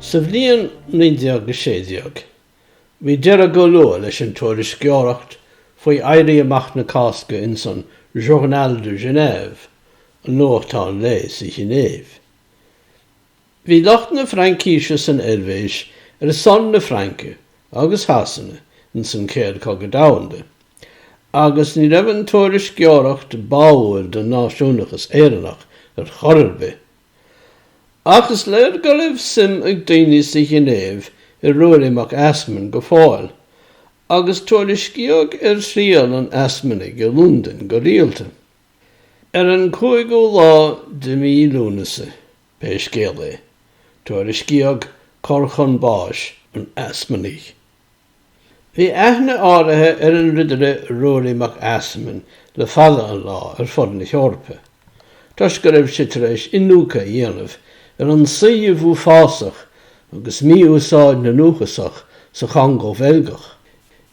Sa bhliain 1916, bhí deireadh go luath leis an tuairisceoireacht faoi Éirí Amach na Cásca ins an Journal de Genève, an nuachtán lae sa Ghinéiv. Bhí lucht na Fraincíse san Eilvéis ar son na Fraince agus Shasana ins an Chéad Chogadh Domhanda, agus ní raibh an tuairisceoireacht báúil don náisiúnachas Éireannach ar chor ar bith. Ach is léir go raibh suim ag daoine sa Ghinéiv i Ruairí Mac Easmainn go fóill, agus tuairiscíodh ar thriall an Easmanaigh i Londain go rialta. Ar an 5ú lá de mhí Lúnasa, pé scéal é, tuairiscíodh cor chun báis an Easmanaigh. Bhí aithne áirithe ar an Ridire Ruairí Mac Easmainn le fada an lá ar fud na hEorpa, toisc go raibh sé tar éis iniúcadh a dhéanamh ar an suíomh uafásach agus mí-úsáid na ndúchasach sa Chongó Bheilgeach.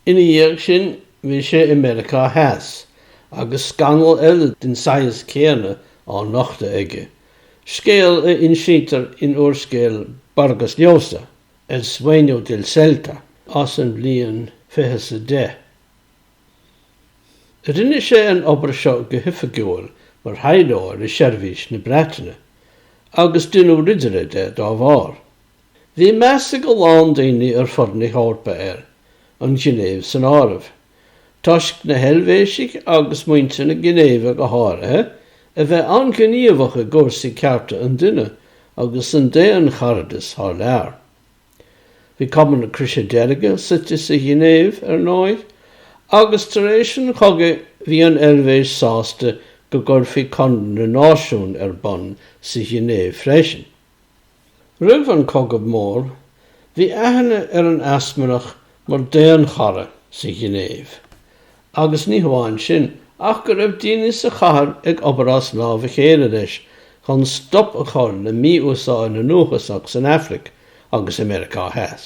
Ina dhiaidh sin, bhí sé i Meiriceá Theas, agus scannal eile den saghas céanna á nochtadh aige, scéal a insítear in úrscéal Vargas Llosa, El sueño del celta as an bhliain fiche's a deich. Rinne sé an obair seo go hoifigiúil mar thaidhleoir i seirbhís na Breataine, agus deineadh ridire de dá bharr. Bhí meas ag a lán daoine ar fud na hEorpa air, an Ghinéiv san áireamh. toisc na hEilvéisigh agus muintir na Ginéive go háirithe a bheith an-ghníomhach i gcúrsaí cearta an duine agus an daoncharadais thar lear. Bhí Cumann na Croise Deirge suite sa Ghinéiv, ar ndóigh, agus tar éis an chogaidh bhí an Eilvéis sásta go gcuirfí Conradh na Náisiún ar bun sa Ghinéiv freisin. Roimh an Cogadh Mór, bhí aithne ar an Easmannach mar daonchara sa Ghinéiv, agus ní hamháin sin, ach go raibh daoine sa chathair ag obair as lámh a chéile leis chun stop a chur le mí-úsáid na ndúchasach san Afraic agus i Meiriceá Theas.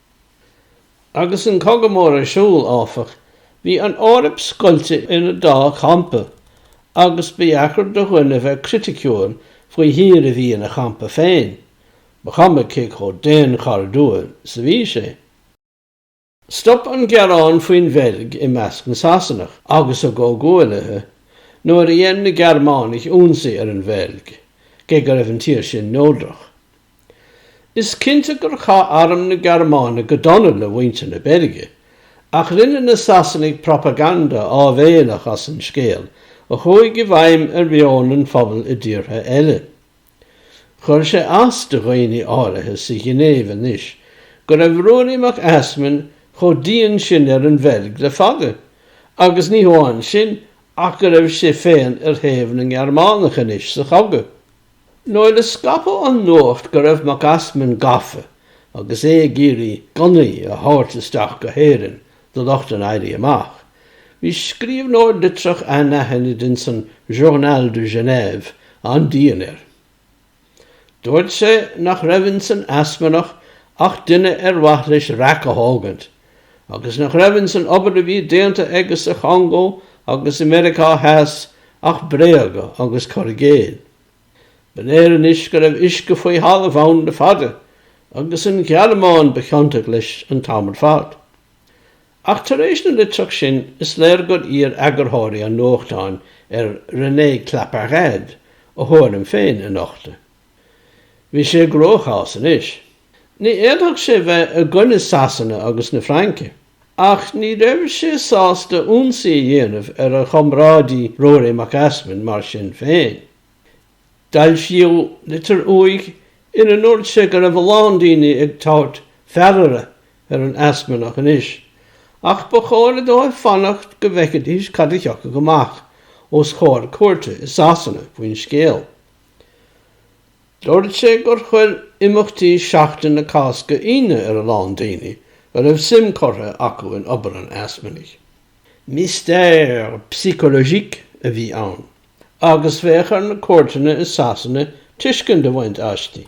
Agus an Cogadh Mór ar siúl, áfach, bhí an Eoraip scoilte ina dá champa agus ba dheacair do dhuine bheith criticiúil faoi thír a bhí ina champa féin, ba chuma cé chomh daonchairdiúil is a bhí sé. Stop an gearán faoin Bheilg i measc na Sasanach agus a gcomhghuaillithe nuair a dhein na Gearmánaigh ionsaí ar an Bheilg, cé go raibh an tír sin neodrach. Is cinnte gur chaith arm na Gearmáine go dona le muintir na Beilge, ach rinne na Sasanaigh propaganda áibhéalach as an scéal a chuaigh i bhfeidhm ar mheon an phobail i dtíortha eile. Chuir sé as do dhaoine áirithe sa Ghinéiv anois go raibh Ruairí Mac Easmainn chomh dian sin ar an Bheilg le fada, agus ní hamháin sin ach go raibh sé féin ar thaobh na nGearmánach anois sa chogadh. Nuair a scaipeadh an nuacht go raibh Mac Easmainn gafa agus é ag iarraidh gunnaí a thabhairt isteach go hÉirinn do lucht an Éirí Amach, bhí scríobhnóir litreach anaithnid ins an Journal de Genève an-dian air. Dúirt sé nach raibh ins an Easmannach ach duine ar mhaith leis raic a thógaint, agus nach raibh ins an obair a bhí déanta aige sa Chongó agus i Meiriceá Theas ach bréaga agus cur i gcéill. Ba léir anois go raibh uisce faoi thalamh ann le fada, agus an Ghearmáin ba chiontach leis an t-am ar fad. Ach tar éis na litreach sin is léir gur iarr eagarthóirí an nuachtáin ar René Claparède a thuairim féin a nochtadh. Bhí sé i gcruachás anois. Ní fhéadfadh sé bheith i gcoinne Sasana agus na Fraince. Ach ní raibh sé sásta ionsaí a dhéanamh ar a chomrádaí Ruairí Mac Easmainn mar sin féin. Foilsíodh litir uaidh ina ndúirt sé go raibh a lán daoine ag tabhairt fealltóra ar an Easmannach anois ach ba chóir dóibh fanacht go bhfeicfidís cad a thiocfadh amach os comhair cúirte i Sasana faoin scéal. Dúirt sé gur chuir imeachtaí Sheachtain na Cásca ionadh ar a lán daoine a raibh suim curtha acu in obair an Easmannaigh. Mystère psychologique a bhí ann agus bheadh ar na cúirteanna i Sasana tuiscint a bhaint aisti.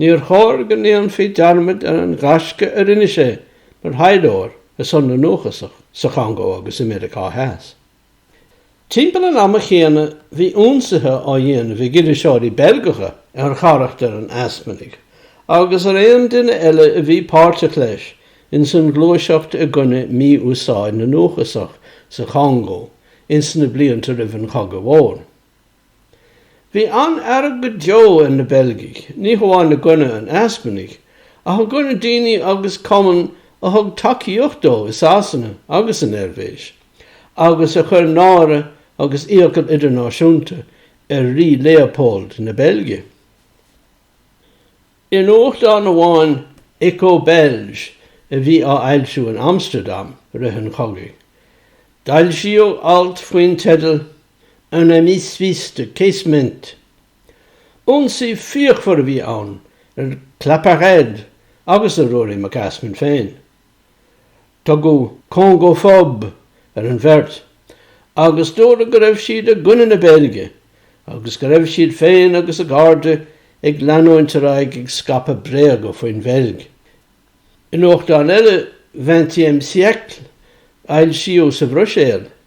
Níor chóir go ndéanfaí dearmad ar an ghaisce a rinne sé mar thaidhleoir ar son na nDúchasach sa Chongó agus i Meiriceá Theas. Timpeall an ama chéanna bhí ionsaithe á ndéanamh ag iriseoirí Beilgeacha ar charachtar an Easmannaigh agus ar aon duine eile a bhí páirteach leis ins an ghluaiseacht i gcoinne mí-úsáid na ndúchasach sa Chongó ins na blianta roimh an Chogadh Mhór. Bhí an-fhearg go deo ar na Beilgigh, ní hamháin i gcoinne an Easmannaigh, ach i gcoinne daoine agus cumann a thug tacaíocht dó i Sasana agus san Eilvéis, agus a chuir náire agus iachall idirnáisiúnta ar Rí Leopold na Beilge. I nuachtán amháin, Echo Belge, a bhí á fhoilsiú in Amstardam i rith an chogaidh, foilsíodh alt faoin teideal, Un ami suisse de Casement, ionsaí fíochmhar a bhí ann ar Claparède agus ar Ruairí Mac Easmainn féin. Tugadh congophobe ar an bheirt agus dúradh go raibh siad i gcoinne na Beilge agus go raibh siad féin agus a gcairde ag leanúint ar aghaidh ag scaipeadh bréaga faoin Bheilg. I nuachtán eile, Vingtième Siècle, a foilsíodh sa Bhruiséil,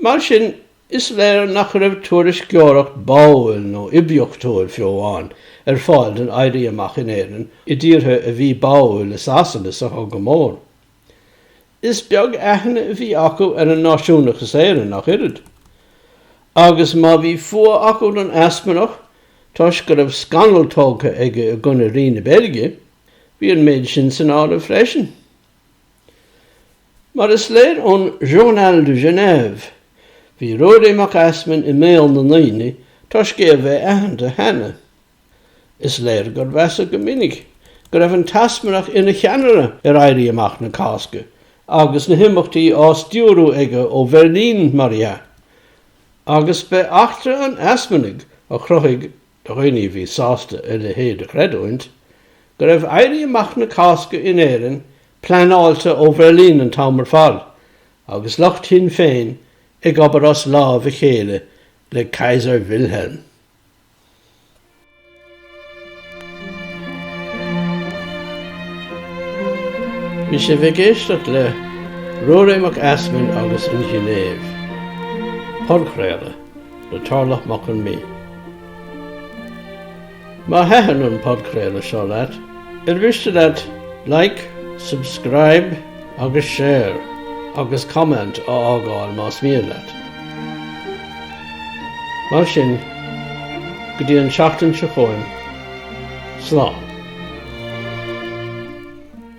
Mar sin, is léir nach raibh tuairisceoireacht báúil nó oibiachtúil, fiú amháin, ar fáil don Éirí Amach in Éirinn i dtíortha a bhí báúil le Sasana sa Chogadh Mór. Is beag aithne a bhí acu ar an náisiúnachas Éireannach oiread. Agus má bhí fuath acu don Easmannach toisc go raibh scannal tógtha aige i gcoinne Rí na Beilge, bhí an méid sin san áireamh freisin. Mar is léir ón Journal de Genève, bhí Ruairí Mac Easmainn i mbéal na ndaoine toisc é a bheith aitheanta cheana. Is léir gur measadh go minic go raibh an tEasmannach ina cheannaire ar Éirí Amach na Cásca agus na himeachtaí á stiúrú aige ó Bheirlín, mar dhea. Agus b'é eachtra an Easmannaigh a chruthaigh do dhaoine a bhí sásta a leithéid a chreidiúint, go raibh Éirí Amach na Cásca in Éirinn pleanáilte ó Bheirlín an t-am ar fad, agus lucht Shinn Féin ag obair as lámh a chéile le Kaiser Wilhelm. Bhí sibh ag éisteacht le Ruairí Mac Easmainn agus An Ghinéiv, podchraoladh. le Torlach Mac Con Midhe. Má thaitin an podchraoladh seo leat, ar mhiste leat Like, Subscribe agus Share agus Comment a fhágáil más mian leat. Mar sin, go dtí an tseachtain seo chugainn, slán.